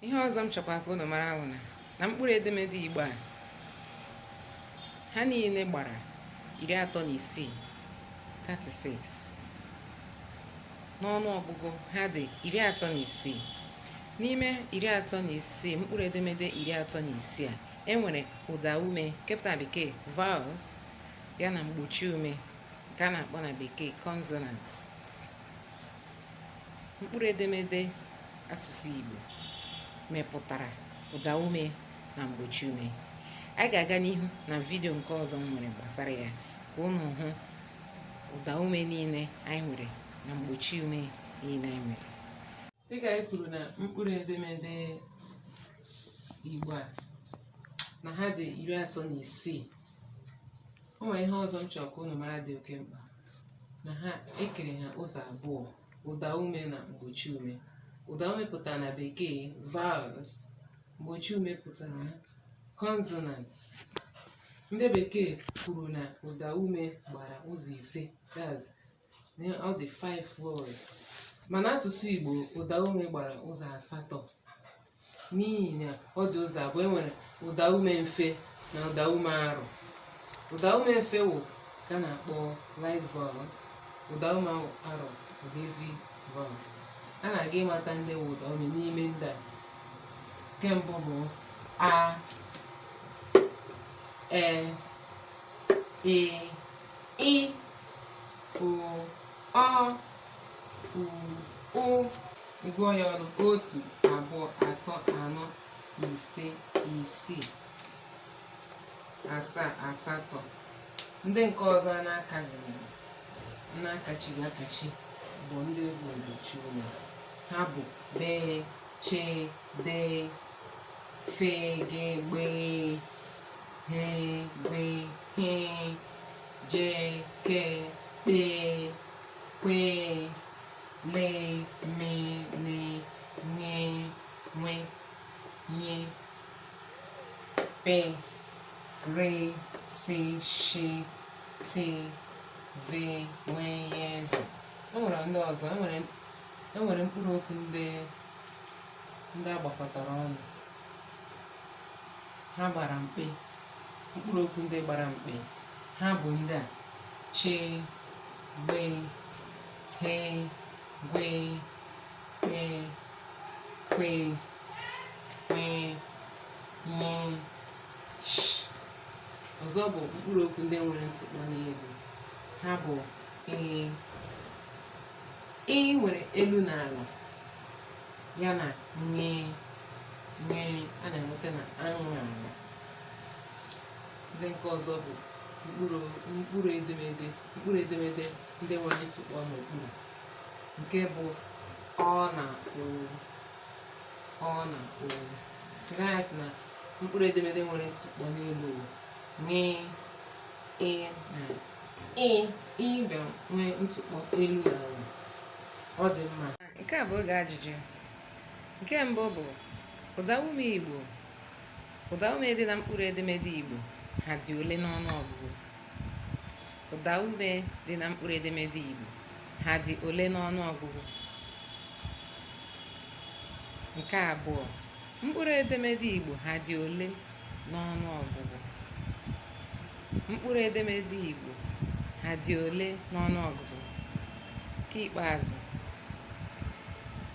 ihe ọzọ m chọkwa ka unu mara wụ na mkpụrụ edemede igbo a ha niile gbara iri atọ na isii 36 n'ọnụ ọgụgụ ha dị iri atọ na isii n'ime iri atọ na isii mkpụrụ edemede iri atọ na isii a e nwere ụda ume nke pụtara na bekee vowels ya na mgbochi ume nke a na-akpọ na bekee consonants mkpụrụ edemede asụsụ Igbo mepụtara ụda ume na mgbochi ume anyị ga-aga n'ihu na vidio nke ọzọ m nwere gbasara ya ka unu hụ ụda ume niile anyị nwere na mgbochi ume niile anyị nwere Dịka anyị kwuru na mkpụrụ edemede Igbo a na ha dị iri atọ na isii o nwere ihe ọzọ m chọrọ ka unu mara dị oke mkpa na ha ekere ha ụzọ abụọ ụda ume na mgbochi ume ụda ume pụtara na bekee vowels mgbochi ume pụtara na consonants ndị bekee kwuru na ụda ume gbara ụzọ ise that's all the five words mana asụsụ igbo ụdaume gbara ụzọ asatọ n'ihi na ọ dị ụzọ abụọ enwere ụdaume mfe na ụdaume arụ ụdaume mfe wụ ka a na-akpọ light vowels ụdaume arụ bụ heavy vowels a na-aga ịmata ndị wụ ụdaume n'ime ndị a nke mbụ bụ a e i ị o ọ u ụ ị gụọ ya ọnụ otu abụọ atọ anọ ise isii asaa asatọ ndị nke ọzọ a na-akaghị na-akachighị akachi bụ ndị bụ mgbochi ume ha bụ bee che dee fe ge gbe ghe gwe he, je, ke, kpe, kwe, le, me, ne, ṅe, nwe, nye, pe, re, si, shi, ti, ve, we, ye, ze. E nwere ndị ọzọ, e nwere mkpụrụ okwu ndị ndị a gbakọtara ọnụ ha gbara mkpị mkpụrụ okwu ndị gbara mkpị ha bụ ndị a chi gbe ghe gwe kpe kwe nwe nye sh ọzọ bụ mkpụrụ okwu ndị nwere ntụkpọ n'elu ha bụ ee ị nwere elu na ala ya na ṅe ṅe a na-enweta na aṅụ aṅụ ndị nke ọzọ bụ mkpụrụ mkpụrụ edemede mkpụrụ edemede ndị nwere ntụkpọ n'okpuru nke bụ ọ na ụ ọ na ụ nke anyị sị na mkpụrụ edemede nwere ntụkpọ n'elu o ṅe ị na ị ị bịa nwee ntụkpọ elu na ala ọ dị mma Nke a bụ oge ajụjụ. Nke mbụ bụ ụdaume Igbo. Ụdaume dị na mkpụrụ edemede Igbo ha dị ole n'ọnụ ọgụgụ? Ụdaume dị na mkpụrụ edemede Igbo ha dị ole n'ọnụ ọgụgụ? Nke abụọ Mkpụrụ edemede Igbo ha dị ole n'ọnụ ọgụgụ? Mkpụrụ edemede Igbo ha dị ole n'ọnụ ọgụgụ? Nke ikpeazụ,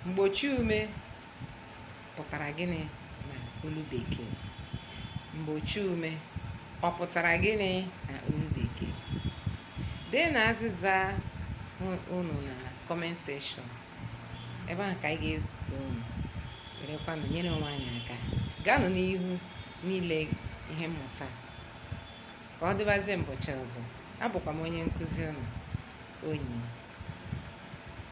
mgbochi ume pụtara gịnị na olu bekee? Mgbochi ume ọ pụtara gịnị na olu bekee? Deenụ azịza unu na comment section. ebe ahụ ka anyị ga-ezute unu werekwanụ nyere onwe anyị aka gaanụ n'ihu n'ile ihe mmụta ka ọ dịbazie mbọchị ọzọ abụkwa m onye nkụzi unu onyi